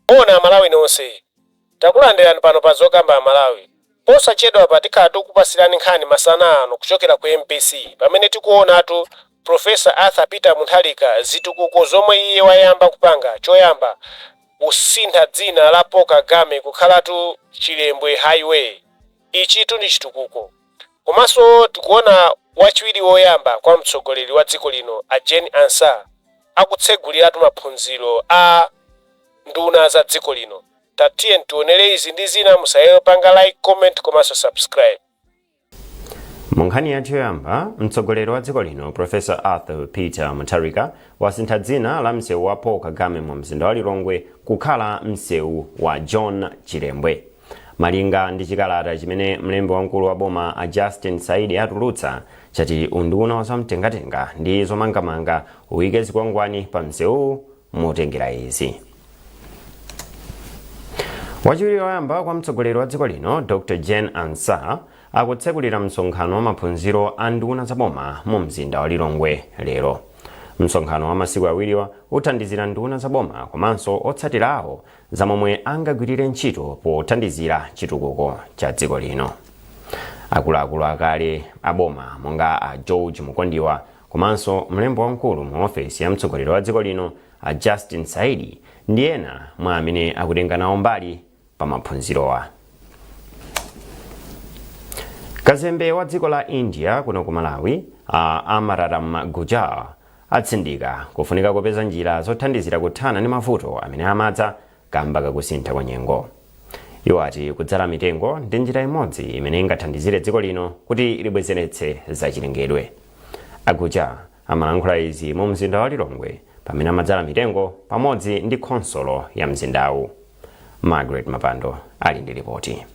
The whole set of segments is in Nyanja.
Moni amalawi nonse takulandilan pano pa zokamba amalawi posachedwapa tikhala tikukupasilani nkhani masana ano kuchokera ku mbc pamene tikuonatu professor arthur peter mutharika zitukuko zomwe iye wayamba kupanga choyamba kusintha dzina la paul kagame kukhalatu chilembwe highway ichitu ndi chitukuko Komanso tikuona wachiwiri woyamba kwa mtsogoleri wa dziko lino a Jane Ansah akutseguliratu maphunziro a nduna za dziko lino. Tatiyeni tionere izi ndi zina musaiwale kupanga like, comment komanso subscribe. Mu nkhani yathu yoyamba, mtsogoleri wa dziko lino Professor Arthur Peter Mutharika wasintha dzina la msewu wa Paul Kagame mu mzinda wa Lilongwe kukhala msewu wa John Chilembwe. Malinga ndi chikalata chimene mlembi wamkulu wa boma a Justin Saidi atulutsa chati unduna wa zamtengatenga ndi zomangamanga uyike zikwangwani pa msewuwu motengera izi. Wachiwiri woyamba kwa mtsogoleri wa dziko lino Dr Jane Ansah akutsekulira msonkhano wa maphunziro a nduna za boma mu mzinda wa Lilongwe lero. Msonkhano wa masiku awiriwa uthandizira nduna za boma komanso otsatira awo za momwe angagwirire ntchito pothandizira chitukuko cha dziko lino akuluakulu akale aboma monga a george mukondiwa komanso mlembi wamkulu mu ofesi ya mtsogoleri wa dziko lino a justin saidi ndi ena mwa amene akutenga nawo mbali pa maphunzirowa kazembe wa dziko la india kuno ku malawi a amararam gujjar atsindika kufunika kopeza njira zothandizira kuthana ndi mavuto amene amadza kamba kakusintha kwa nyengo. Iwo ati kudzala mitengo ndi njira imodzi imene ingathandizire dziko lino kuti libwezeretse za chilengedwe. A Gujjar amalankhula izi mu mzinda wa Lilongwe pamene amadzala mitengo pamodzi ndi khonsolo ya mzindawu. Margaret Mapando ali ndi lipoti.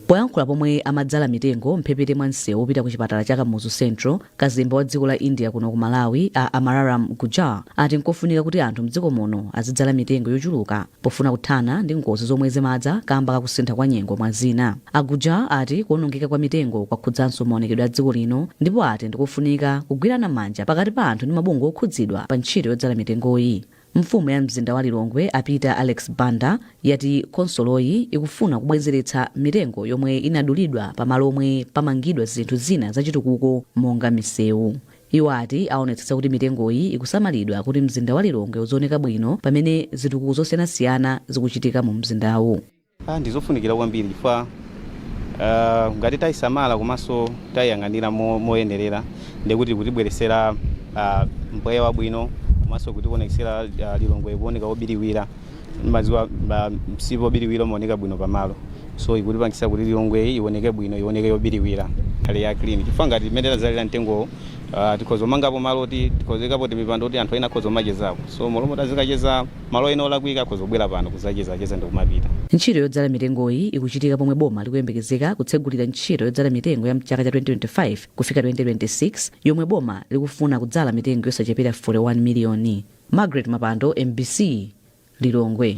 Poyankhula pomwe amadzala mitengo mphepete mwa msewu wopita ku chipatala cha Kamuzu Central, kazembe wa dziko la India kuno ku Malawi a Amararam Gujjar ati nkofunika kuti anthu mdziko muno azidzala mitengo yochuluka pofuna kuthana ndi ngozi zomwe zimadza kamba kakusintha kwa nyengo mwa zina. A Gujjar ati kuonongeka kwa mitengo kwakhudzanso maonekedwe a dziko lino ndipo ati ndikofunika kugwirana manja pakati pa anthu ndi mabungwe okhudzidwa pa ntchito yodzala mitengoyi. Mfumu ya mzinda wa Lilongwe a Peter Alex Banda yati khonsoloyi ikufuna kubwenzeretsa mitengo yomwe inadulidwa pa malo omwe pamangidwa zinthu zina zachitukuko monga misewu. Iwo ati awonetsetsa kuti mitengoyi ikusamalidwa kuti mzinda wa Lilongwe uzioneka bwino pamene zitukuko zosiyanasiyana zikuchitika mu mzindawu. Ha, ndi zofunikira kwambiri chifukwa ah, ngati tayisamala komanso tayiyang'anira mo- moyenerera ndiye kuti ikutibweretsera ah, mpweya wabwino komanso kutiwonetsera ah, Lilongwe kuoneka wobiriwira mumadziwa ah, msipu wobiriwira umaoneka bwino pamalo so ikutipangitsa kuti Lilongwe ioneke bwino ioneke yobiriwira ikhale ya clean chifukwa ngati mmene tazalira mitengomu ah, tikhoza kumangapo malo oti tikhoza kuikapo timipando kuti anthu ena akhoza kumachezapo so mmalo moti azikacheza Malo ena olakwika akhoza kubwera pano kudzacheza cheza ndikumapita. Ntchito yodzala mitengoyi ikuchitika pomwe boma likuyembekezeka kutsegulira ntchito yodzala mitengo ya mchaka cha 2025 kufika 2026 yomwe boma likufuna kudzala mitengo yosachepera 41 miliyoni. Margaret Mapando, MBC, Lilongwe.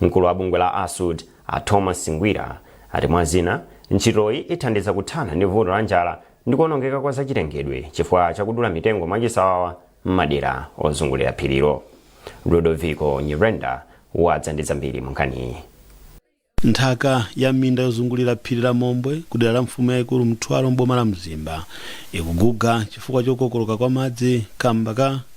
Mkulu wa bungwe la ASUD, a Thomas Ngwira, ati mwa zina, ntchitoyi ithandiza kuthana ndi vuto la njala ndi kuonongeka kwa zachilengedwe chifukwa cha kudula mitengo mwachisawawa m'madera ozungulira phirilo. Ludoviko Nyirenda wadza ndi zambiri munkhaniyi. Nthaka ya m'minda yozungulira phiri la Mombwe ku dera la mfumu yaikulu Mtwalo m'boma la Mzimba ikuguga chifukwa chokokoloka kwa madzi kamba ka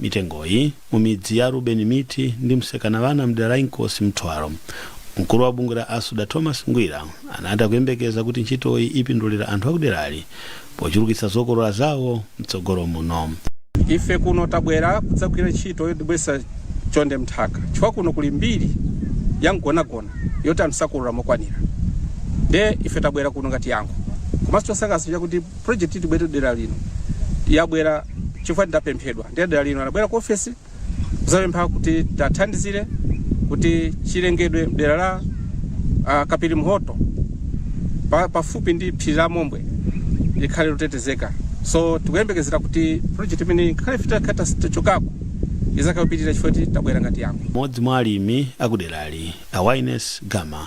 mitengoyi mu midzi ya Ruben Miti ndi Msekawana mdera la Inkosi Mtwalo, mkulu wa bungwe la ASUD a Thomas Ngwira anati akuyembekeza kuti ntchitoyi ipindulira anthu akuderali pochulukitsa zokolola zawo mtsogolo muno. ife kuno tabwera kudzagwira ntchito yobwezeretsa chonde mthaka chifukwa kuno kuli mbiri ya mgonagona yoti anthu sakolola mokwanira nde ife tabwera kuno ngati yankho komanso chosangalatsa chakuti project tibwere dera lino yabwera chifukwa tidapemphedwa ndi adera lino anabwera ku ofesi kuzapempha kuti tiwathandizire kuti chilengedwe mdera la uh, Kapirimhoto pa, pafupi ndi phiri la Mombwe likhale lotetezeka so tikuyembekezera kuti project imene ngakhale ife titakhala tachokako izakapitirira chifukwa kuti tabwera ngati yankho. Mmodzi mwa alimi akuderali a Wines Gama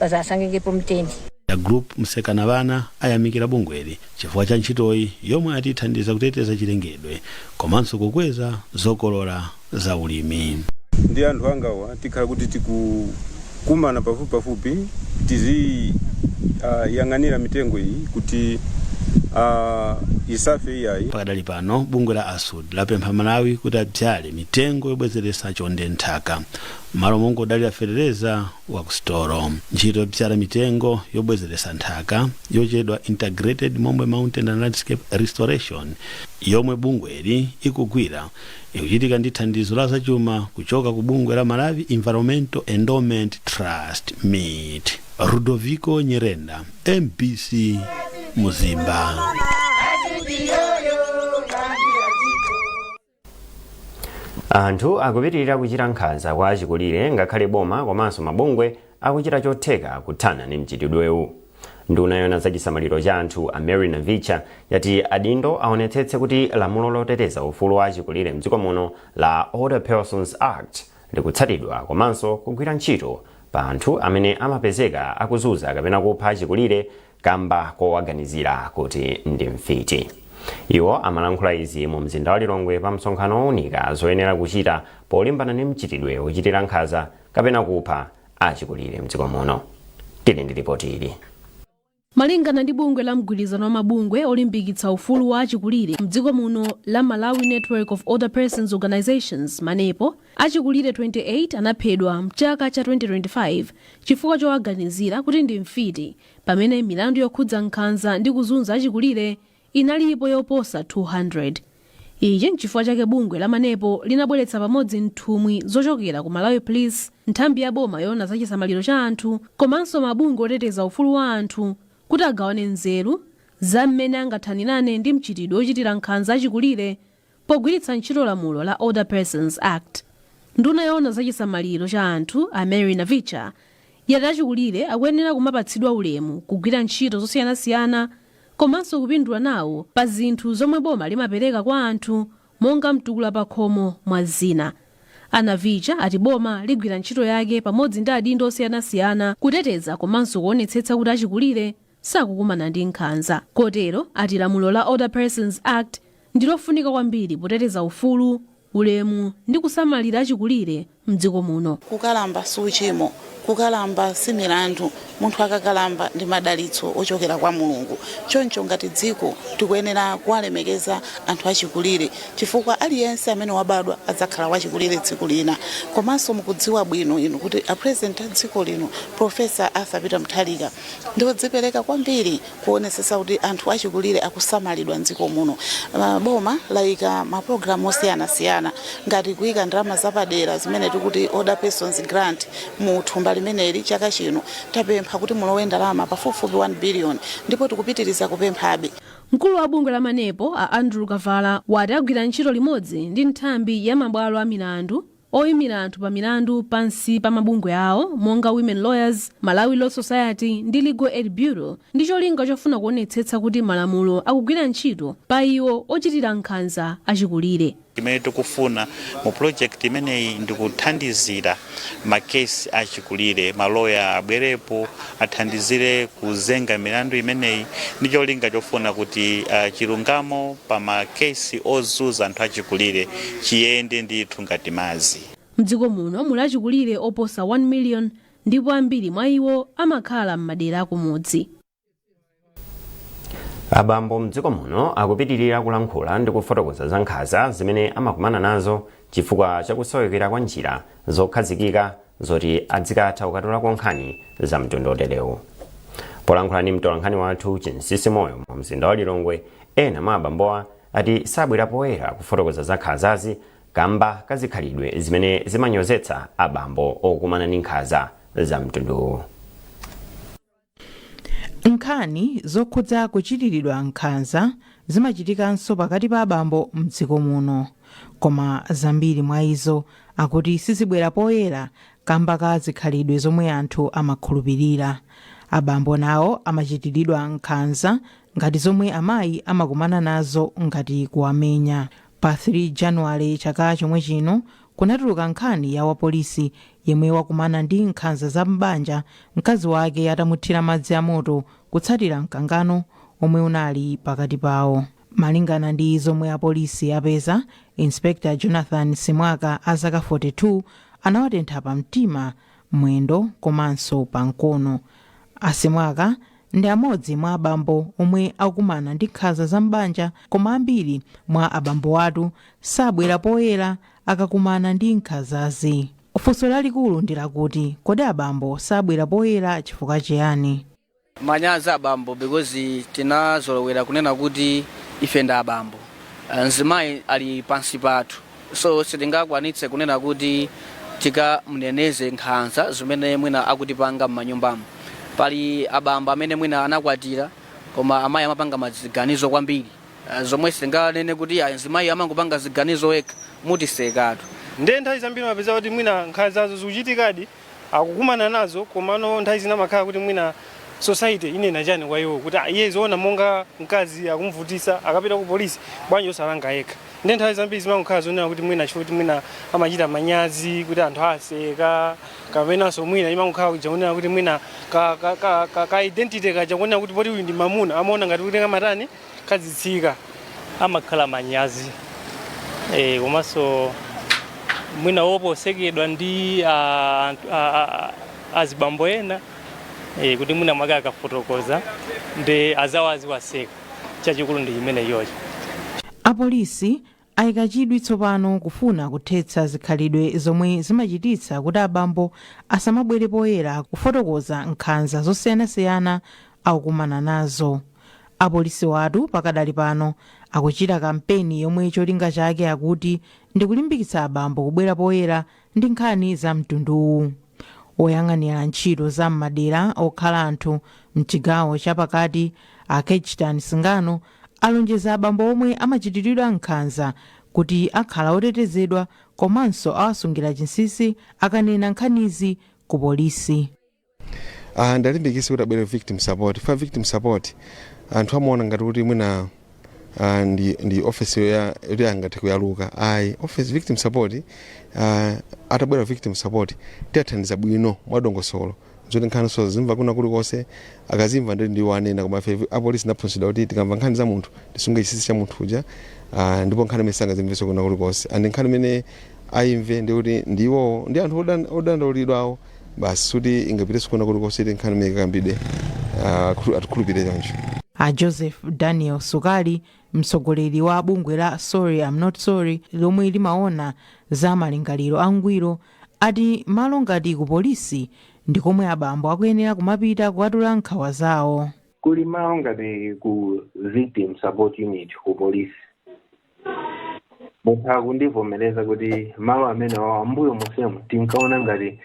bazasangengepo mtende. A Group Msekawana ayamikira bungweli chifukwa cha ntchitoyi yomwe ati ithandiza kuteteza chilengedwe komanso kukweza zokolola za ulimi. ndi anthu anga awa tikhala kuti tikukumana pafupipafupi tiziyang'anira mitengo iyi kuti ah, isafe iyayi Pakadali pano bungwe la ASUD lapempha aMalawi kuti adzale mitengo yobwezeretsa chonde mnthaka m'malo mongodalira fetereza wa ku sitolo. Ntchito yobzala mitengo yobwezeretsa nthaka yotchedwa Integrated Mombwe Mountain and Landscape Restoration yomwe bungweli ikugwira ikuchitika ndi thandizo la zachuma kuchoka ku bungwe la Malawi Environmental Endowment Trust, MEET. Ludoviko Nyirenda, MBC Mzimba. anthu akupitirira kuchita nkhanza kwa achikulire ngakhale boma komanso mabungwe akuchita chotheka kuthana ndi mchitidwewu nduna yoona za chisamaliro cha anthu a mary navicha yati adindo aonetsetse kuti lamulo loteteza ufulu wa achikulire mdziko muno la older persons act likutsatidwa komanso kugwira ntchito pa anthu amene amapezeka akuzunza kapena kupha achikulire kamba kowaganizira kuti ndi mfiti. Iwo amalankhula izi mu mzinda wa Lilongwe pa msonkhano owunika zoyenera kuchita polimbana ndi mchitidwe wochitira nkhanza kapena kupha achikulire mdziko muno. Tili ndi lipoti ili. Malingana ndi bungwe la mgwirizano wa mabungwe olimbikitsa ufulu wa achikulire mdziko muno la Malawi Network of Older Persons Organisations, Manepo, Achikulire 28 anaphedwa m'chaka cha 2025 chifukwa chowaganizira kuti ndi mfiti pamene milandu yokhudza nkhanza ndi kuzunza achikulire inalipo yoposa 200. Ichi n'chifukwa chake bungwe la Manepo linabweretsa pamodzi nthumwi zochokera ku Malawi Police, nthambi ya boma yoona za chisamaliro cha anthu komanso mabungwe oteteza ufulu wa anthu kuti agawane nzeru za mmene angathanirane ndi mchitidwe wochitira nkhanza achikulire Pogwiritsa ntchito lamulo la Older Persons Act, nduna yoona za chisamaliro cha anthu a Mary Navicha yati achikulire akuyenera kumapatsidwa ulemu, kugwira ntchito zosiyanasiyana komanso kupindula nawo pa zinthu zomwe boma limapereka kwa anthu monga mtukula pakhomo mwa zina. A Navicha ati boma ligwira ntchito yake pamodzi ndi adindo osiyanasiyana kuteteza komanso kuonetsetsa kuti achikulire sakukumana ndi nkhanza kotero ati lamulo la Older Persons Act ndi lofunika kwambiri poteteza ufulu, ulemu ndi kusamalira achikulire m'dziko muno. Kukalamba si uchimo, kukalamba si milandu. Munthu akakalamba ndi madalitso ochokera kwa Mulungu. Choncho ngati dziko tikuyenera kuwalemekeza anthu achikulire chifukwa aliyense amene wabadwa adzakhala wachikulire tsiku lina. Komanso mukudziwa bwino inu kuti a President a dziko lino, Prof. Arthur Peter Mutharika, ndiodzipereka kwambiri kuonetsetsa kuti anthu achikulire akusamalidwa m'dziko muno. Ah, Boma layika mapulogalamu osiyanasiyana ngati kuyika ndalama zapadera zimene tikuti Older Persons Grant mu thumba limeneli chaka chino tapempha kuti mulowe ndalama pafupifupi 1 billion ndipo tikupitiriza kupemphabe. Mkulu wa bungwe la Manepo, a Andrew Kavala, wati agwira ntchito limodzi ndi nthambi ya mabwalo a milandu Oimira anthu pa milandu pansi pa mabungwe awo monga Women Lawyers, Malawi Law Society ndi Legal Aid Bureau ndi cholinga chofuna kuonetsetsa kuti malamulo akugwira ntchito pa iwo ochitira nkhanza achikulire. Chimene tikufuna mu project imeneyi ndi kuthandizira ma case achikulire, ma lawyer abwerepo, athandizire kuzenga milandu imeneyi ndi cholinga chofuna kuti uh, chilungamo pa makesi ozunza anthu achikulire chiyende ndithu ngati madzi Mdziko muno muli achikulire oposa 1 million ndipo ambiri mwa iwo amakhala m'madera akumudzi. abambo mdziko muno akupitirira kulankhula ndi kufotokoza za nkhanza zimene amakumana nazo chifukwa chakusowekera kwa njira zokhazikika zoti adzikatha kukatulako nkhani za mtundu oterewu polankhula ndi mtolankhani wathu chinsisi moyo mu mzinda wa lilongwe ena mwa abambowa ati sabwera poyera kufotokoza za nkhanzazi kamba kazikhalidwe zimene zimanyozetsa abambo okumana ndi nkhanza za mtunduwu Nkhani zokhudza kuchitiridwa nkhanza zimachitikanso pakati pa abambo m'dziko muno. Koma zambiri mwa izo akuti sizibwera poyera kamba ka zikhalidwe zomwe anthu amakhulupirira. Abambo nawo amachitiridwa nkhanza ngati zomwe amayi amakumana nazo ngati kuwamenya. Pa 3 Januwale chaka chomwe chino kunatuluka nkhani ya wapolisi yemwe wakumana ndi nkhanza za m'banja mkazi wake atamuthira madzi a moto kutsatira mkangano omwe unali pakati pawo. Malingana ndi zomwe apolisi apeza, Inspector Jonathan Simwaka a zaka 42 anawatentha pa mtima, mwendo komanso pa mkono. A Simwaka ndi amodzi mwa abambo omwe akumana ndi nkhanza za m'banja koma ambiri mwa abambowatu sabwera poyera akakumana ndi nkhanzazi funso lalikulu ndi lakuti kodi abambo sabwera poyera chifukwa chiyani manyazi abambo because tinazolowera kunena kuti ife ndi abambo Eh, mzimayi ali pansi pathu so sitingakwanitse kunena kuti tikamneneze nkhanza zimene mwina akutipanga m'manyumbamo pali abambo amene mwina anakwatira koma amayi amapanga maziganizo kwambiri Ah, zomwe sitinganene kuti ayi mzimayi amangopanga ziganizo yekha mutisekatu ndiye nthawi zambiri mapeza kuti mwina nkhanzazo zikuchitikadi akukumana nazo komano nthawi zina amakhala kuti mwina society inena chani kwa iwo kuti "Ah, iye zoona monga mkazi akumvutitsa akapita ku polisi bwanji osalanga yekha ndiye nthawi zambiri zimangokhala zonena kuti mwina chifukwa kuti mwina amachita manyazi kuti anthu aseka kapenanso mwina imangokhala kuja kunena kuti mwina ka, ka, ka, ka, ka identity kaja kunena kuti poti uyu ndi mamuna amaona ngati kuti kamatani kazitsika amakhala manyazi eh, komanso mwina woopa kusekedwa ndi ah, anthu- ah, ah, ah, azibambo ena eh, kuti mwina mwake akafotokoza ndi anzawo aziwaseka chachikulu ndi chimenecho Apolisi Ayika chidwi tsopano kufuna kuthetsa zikhalidwe zomwe zimachititsa kuti abambo asamabwere poyera kufotokoza nkhanza zosiyanasiyana akukumana nazo. Apolisiwa tu pakadali pano akuchita kampeni yomwe cholinga chake akuti ndi kulimbikitsa abambo kubwera poyera ndi nkhani za mtunduwu. Woyang'anira ntchito za m'madera okhala anthu m'chigawo cha pakati a Kejtan Singano Alonjeza abambo omwe amachitiridwa nkhanza kuti akhala otetezedwa komanso awasungira chinsinsi akanena nkhanizi ku polisi. Ah, ndiwalimbikitse kuti abwere ku Victim Support chifukwa Victim Support anthu amaona ngati kuti mwina ah, ndi, ndi office yoya- yoti angathe kuyaluka ayi office Victim Support ah, atabwera ku Victim Support tiwathandiza bwino mwadongosolo zoti nkhani sadzaimva kwina kulikonse akadzaimva ndiye ndiwo anena koma ife apolisi tinaphunzitsidwa kuti tikamva nkhani za munthu tisunge chinsinsi cha munthu uja ah, ndipo nkhani imeneyi sangadzaimvenso kwina kulikonse and nkhani imeneyi ayimve ndi kuti ndi iwowo ndi anthu odan- odandaulidwawo basi siingapitenso kwina kulikonse kuti nkhani imene ikakambidwe ah, khulu- atikhulupirire choncho a joseph daniel sukali mtsogoleri wa bungwe la sorry am not sorry lomwe limaona za malingaliro angwiro ati malo ngati ku polisi ndi komwe abambo akuyenera kumapita kukatula nkhawa zawo. Kuli malo ngati ku Victim Support Unit ku polisi. Mutha kundivomereza kuti malo amenewawa m'mbuyo monsemu tinkaona ngati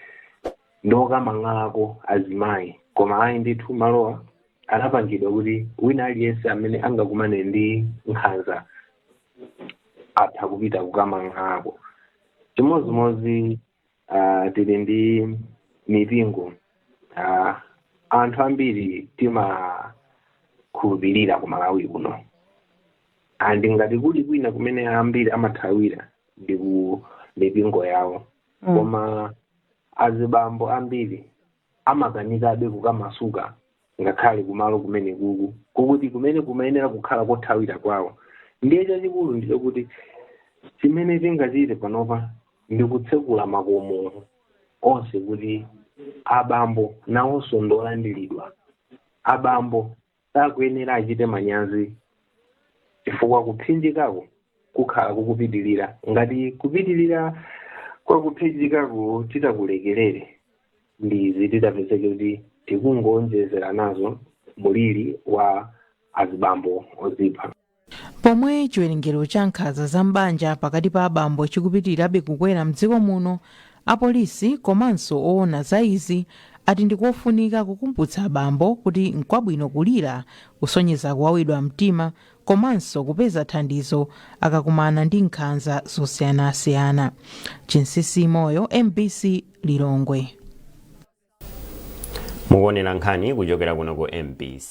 ndi okamang'alako azimayi koma ayi ndithu malowa anapangidwa kuti wina aliyense amene angakumane ndi nkhanza atha kupita kukamang'alako. chimodzimodzi uh, tili ndi mipingo uh, anthu ambiri timakhulupirira ku malawi kuno and ngati kuli kwina kumene ambiri amathawira ndi ku mipingo yawo koma azibambo ambiri amakanikabe kukamasuka ngakhale kumalo kumene kuku kokuti kumene kumayenera kukhala kothawira kwawo ndiye chachikulu ndi chokuti chimene tingachite panopa ndi kutsekula makomo onse kuti abambo nawonso ndolandiridwa abambo sakuyenera achite manyazi chifukwa kupsinjikako kukhala kukupitirira ngati kupitirira kwa kupsinjikako titakulekerere ndi izi titapezeke kuti tikungoonjezera nazo muliri wa azibambo ozipha Pomwe chiwerengero cha nkhanza za m'banja pakati pa abambo chikupitirirabe kukwera mdziko muno, apolisi komanso owona za izi ati ndikofunika kukumbutsa abambo kuti nkwabwino kulira, kusonyeza kuwawidwa mtima komanso kupeza thandizo akakumana ndi nkhanza zosiyanasiyana. Chinsisi Moyo, mbc, Lilongwe. Mukuonera nkhani kuchokera kuno ku mbc.